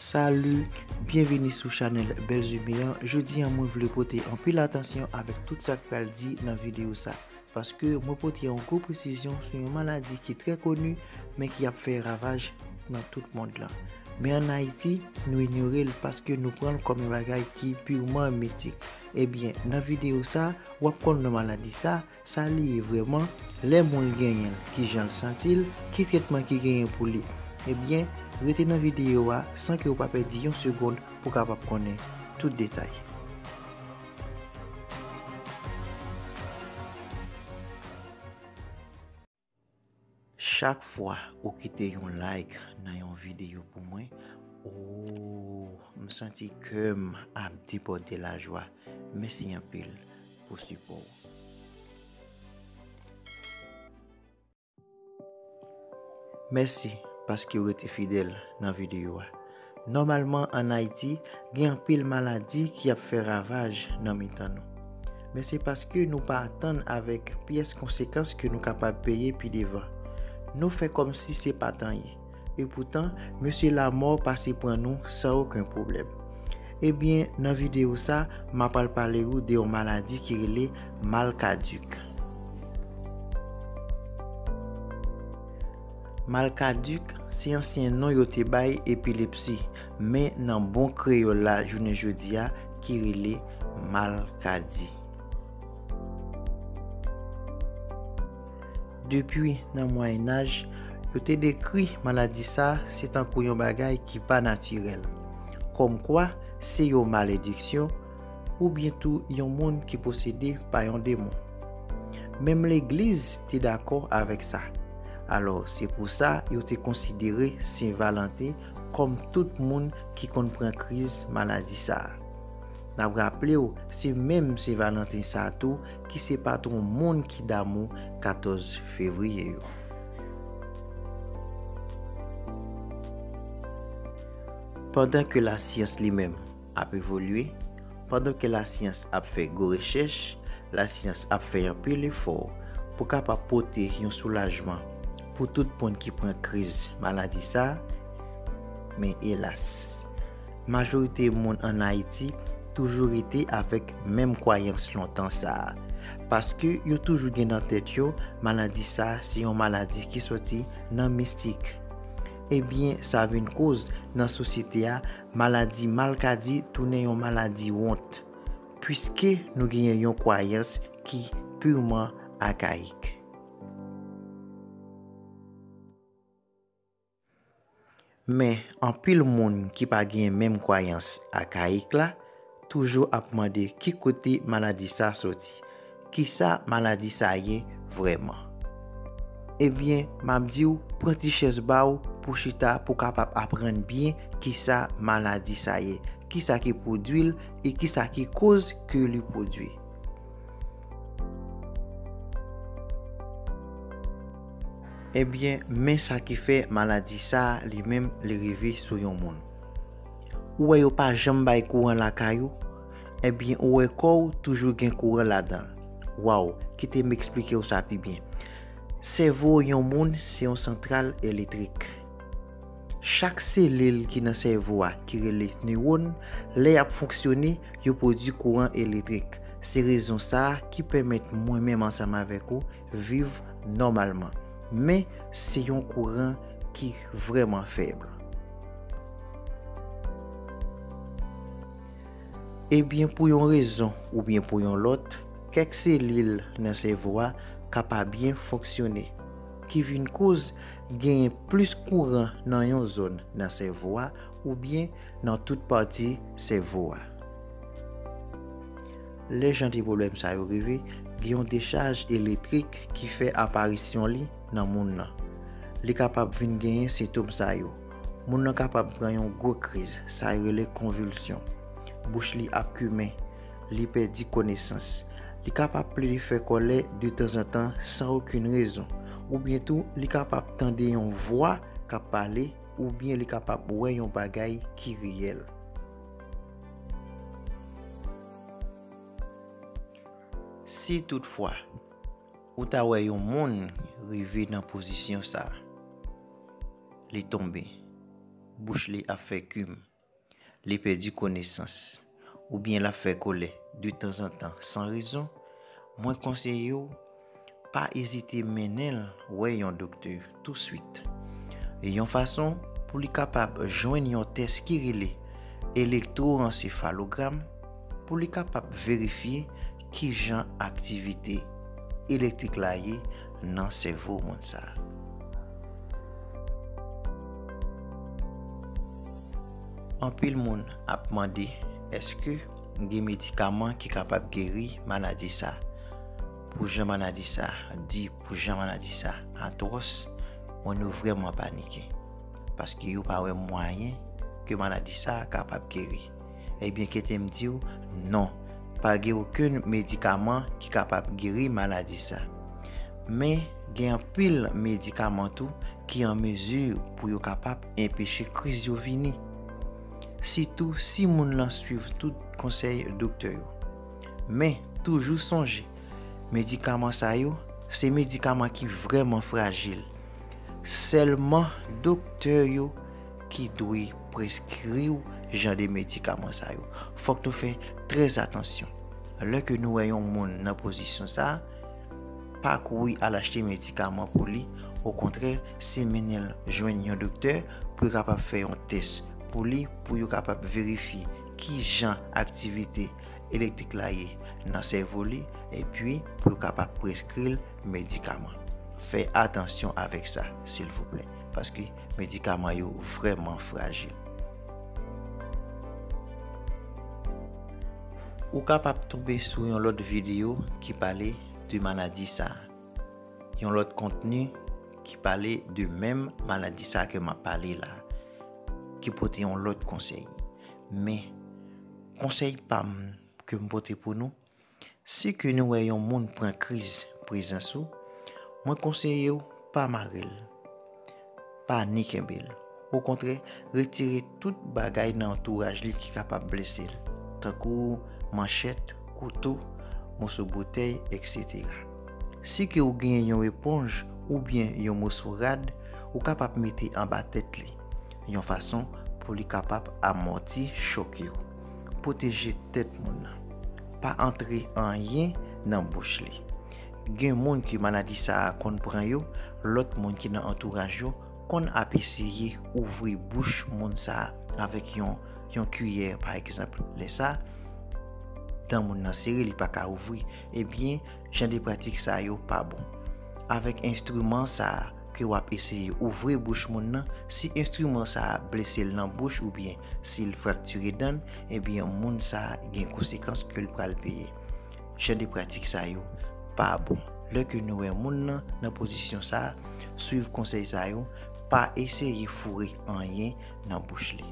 Salut, byenvini sou chanèl Belzumi an, jodi an mwen vle pote anpil atansyon avèk tout sak pral di nan videyo sa, paske mwen pote yon gwo presizyon sou yon maladi ki trè koni men ki ap fè ravaj nan tout mond lan. Men an Ayiti, nou inyore l paske nou pran l kòm yon bagay ki pirman mistik. Ebyen, nan videyo sa, wap konn non maladi sa, Sa li ye vrèman, lè moun genyen l, ki jan l santi l, ki tretman ki genyen pou li. Ebyen, rete nan videyo a san ke ou pa pèdi yon segond pou kapab konnen tout detay. Chak fwa ou kite yon like nan yon video pou mwen ooh m santi kem ap debòde lajwa mèsi anpil pou sipò ou. Mèsi paskew rete fidèl nan video a. Nòmalman an Ayiti, gen anpil maladi ki ap fè ravaj nan mitan nou. Men se paske nou pa atann avèk pyès konsekans ke nou kapab peye pi devan. Nou fè kòmsi se pa t anyen. Epoutan, mesye lamò pase pran nou san oken pwoblèm. Ebyen, nan videyo sa, m apral pale ou de yon maladi ki rele mal kadik. Malkadik se ansyen non yo te bay epilepsi, men nan bon kreyòl la jounen jodi a ki rele malkadi. Depi nan Mwayenaj, yo te dekri maladi sa se tankou yon bagay ki pa natirèl, kòmkwa se yon malediksyon, oubyen tou yon moun ki posede pa yon demon. Menm legliz te dakò avèk sa. Alò, se pou sa yo te konsidere Sen Valanten kòm tout moun ki konn pran kriz maladi sa. N ap raple w se menm Sen Valanten sa tou ki se patwon moun ki damou 14 fevriye yo. Pandan ke lasyans li menm ap evolye, pandan ke lasyans ap fè gwo rechèch, lasyans ap fè anpil efò pou kapab pote yon soulajman pou tout moun ki pran kriz maladi sa, men elas, majorite moun an Ayiti toujou rete avèk menm kwayans lontan sa, paske yo toujou gen nan tèt yo maladi sa se yon maladi ki sòti nan mistik. Ebyen sa vin koz nan sosyete a Maladi malkadi tounen yon maladi wont, puiske nou genyen yon kwayans ki purman akayik. Men, anpil moun ki pa genyen menm kwayans akayik la, Toujou ap mande ki kote maladi sa soti? Kisa maladi sa ye vrèman? Ebyen map diw pran ti chèz baw pou chita pou kapab aprann byen kisa maladi sa ye, kisa ki pwodwi l e kisa ki koz ke li pwodwi. Ebyen men sa ki fè maladi sa li menm li rive sou yon moun. Ou wè yo pa janm bay kouran lakay ou? Ebyen ou wè kò ou toujou gen kouran ladan l. Waw, kite m eksplike w sa pi byen. Sèvo yon moun se yon santral elektrik. Chak selil ki nan sèvo a ki rele newòn, lè y ap fonksyone, yo pwodui kouran elektrik. Se rezon sa ki pèmèt mwen menm ansanm avèk ou viv nòmalman. Men, se yon kouran ki vrèman fèb. Ebyen, pou yon rezon oubyen pou yon lòt, kèk selil nan sèvo a ka pa byen fonksyone, ki vin koz genyen plis kouran nan yon zòn nan sèvo a oubyen nan tout pati sèvo a. Lè jan de pwoblèm sa yo rive, gen yon dechaj elektrik ki fè aparisyon li nan moun nan. Li kapab vin genyen sentom sa yo, Moun nan kapab pran yon gwo kriz, sa yo rele konvilsyon. Bouch li ap kimen. Li pèdi konesans. Li kapab plede fè kòlè de tanzantan san okenn rezon. Oubyen tou, li kapab tande yon vwa k ap pale oubyen li kapab wè yon bagay ki reyèl. Si tout fwa, ou ta wè yon moun rive nan pozisyon sa, li tonbe, bouch li ap fè kim, li pèdi konesans, oubyen lap fè kolè de tanzantan san rezon, mwen konseye w, Pa ezite mennen l wè yon doktè touswit. Yon fason pou li kapab jwenn yon tès ki rele elektworansefalogram pou li kapab verifye ki jan aktivite elektrik la ye nan sèvo moun sa a. Anpil moun ap mande, èske. Gen medikaman ki kapab geri maladi sa. Pou jan maladi sa di, pou jan maladi sa atwòs, mwen nou vrèman panike. Paske yo pa wè mwayen ke maladi sa kapab geri. Ebyen kete m di w, non, pa gen okenn medikaman ki kapab geri maladi sa. Men, gen anpil medikaman tou ki an mezi pou yo kapab enpeche kriz yo vini. sitou si moun lan swiv tout konsèy doktè yo. Men, toujou sonje, medikaman sa yo, se medikaman ki vrèman frajil. Sèlman doktè yo ki dwe preskri w jan de medikaman sa yo. Fòk nou fè trè atansyon lè ke nou wè yon moun nan pozisyon sa a. Pa kouri al achte medikaman pou li, okontrè se mennen l jwenn yon doktè pou yo kapab fè yon tès pou li pou yo kapab verifye ki jan aktivite elektrik la ye nan sèvo li epi pou yo kapab preskri l medikaman. Fè atansyon avèk sa silvouplè paske Medikaman yo vrèman frajil. Ou kapab tonbe sou yon lòt videyo ki pale de maladi sa a. Yon lòt kontni ki pale de menm maladi sa a ke m ap pale la a, ki pote yon lòt konsèy. Men, konsèy pa m ke m pote pou nou, Si ke nou wè yon moun pran kriz prezans ou, mwen konseye w pa mare l, pa ni kenbe l. Okontrè, retire tout bagay nan antouraj li ki kapab blese l, tankou manchèt, kouto, moso botèy, eksetera. Si ke ou genyen yon eponj oubyen yon moso rad, ou kapab mete anba tèt li, yon fason pou li kapab amòti chòk yo. Pwoteje tèt moun nan. Pa antre anyen nan bouch li. Gen moun ke maladi sa a konn pran yo, lòt moun ki nan antouraj yo konn ap eseye ouvri bouch moun sa a avèk yon kiyè pa egzanp. Lè sa, dan moun nan sere li pa ka ouvri. Ebyen, jan de pratik sa yo pa bon. Avèk enstriman sa a. ke wap eseye ouvri bouch moun nan, si enstriman sa a blese l nan bouch oubyen si l fraktire dan, ebyen moun sa a gen konsekans ke l pral peye. Jan de pratik sa yo pa bon. Lè ke nou wè moun nan nan pozisyon sa a, swiv konsèy sa yo, pa eseye foure anyen nan bouch li.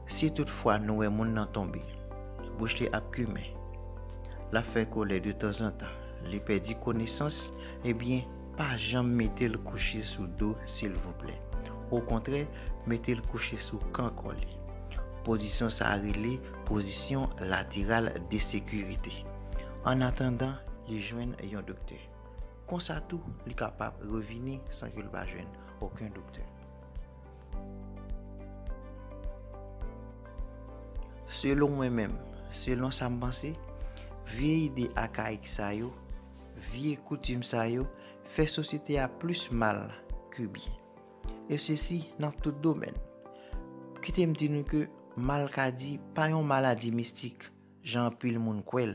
Si tout fwa nou wè moun nan tonbe, bouch li ap kimen, lap fè kolè de tanzantan, li pèdi konesans, ebyen pa janm metel kouche sou do silvouplè. Okontrè metel kouche sou kan kò li. Pozisyon sa rele pozisyon lateral de sekirite. An atandan li jwenn yon doktè. Konsa tou li kapab revini san ke li pa jwenn oken doktè. Selon mwen menm, selon sa m panse, vye ide akayik sa yo, vye koutim sa yo, fè sosyete a plis mal ke byen. E se si nan tout domèn. Kite m di nou ke malkadi pa yon maladi mistik, jan anpil moun kwè l.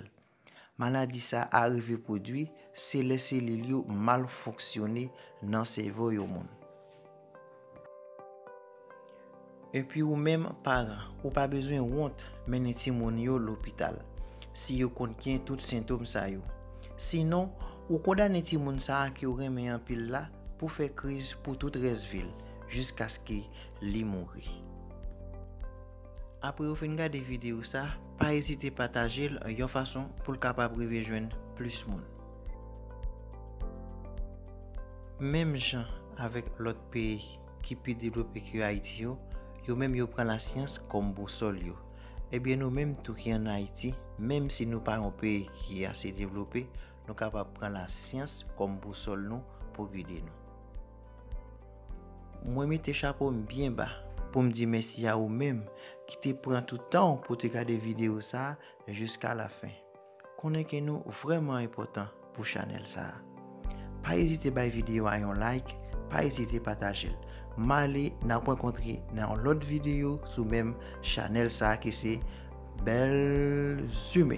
Maladi sa a rive pwodui se lè selil yo mal fonksyone nan sèvo yon moun. Epi ou menm paran, ou pa bezwen wont mennen timoun yo lopital si yo konn gen tout sentom sa yo. Sinon, ou kondane timoun sa a ke w renmen anpil la pou fè kriz pou tout rès vi l jiskaske li mouri. Apre ou fin gade videyo sa, pa ezite pataje l yon fason pou l kapab rive jwenn plis moun. Menm jan avèk lòt peyi ki pi devlope ke Ayiti yo, yo menm yo pran lasyans kòm bousòl yo. Ebyen nou menm tou ki an Ayiti, menm si nou pa yon peyi ki ase devlope, nou kapab pran lasyans kòm bousòl nou pou gide nou. Mwen mete chapo m byen ba pou m di mèsi a ou menm ki te pran tout tan w pou w te gade videyo sa jiska lafen. Konnen ke nou vrèman enpòtan pou chanèl sa. Pa ezite bay videyo a yon like, pa ezite pataje l. M ale n ap rankontre nan yon lòt videyo sou menm chanèl sa ki se Belzhume.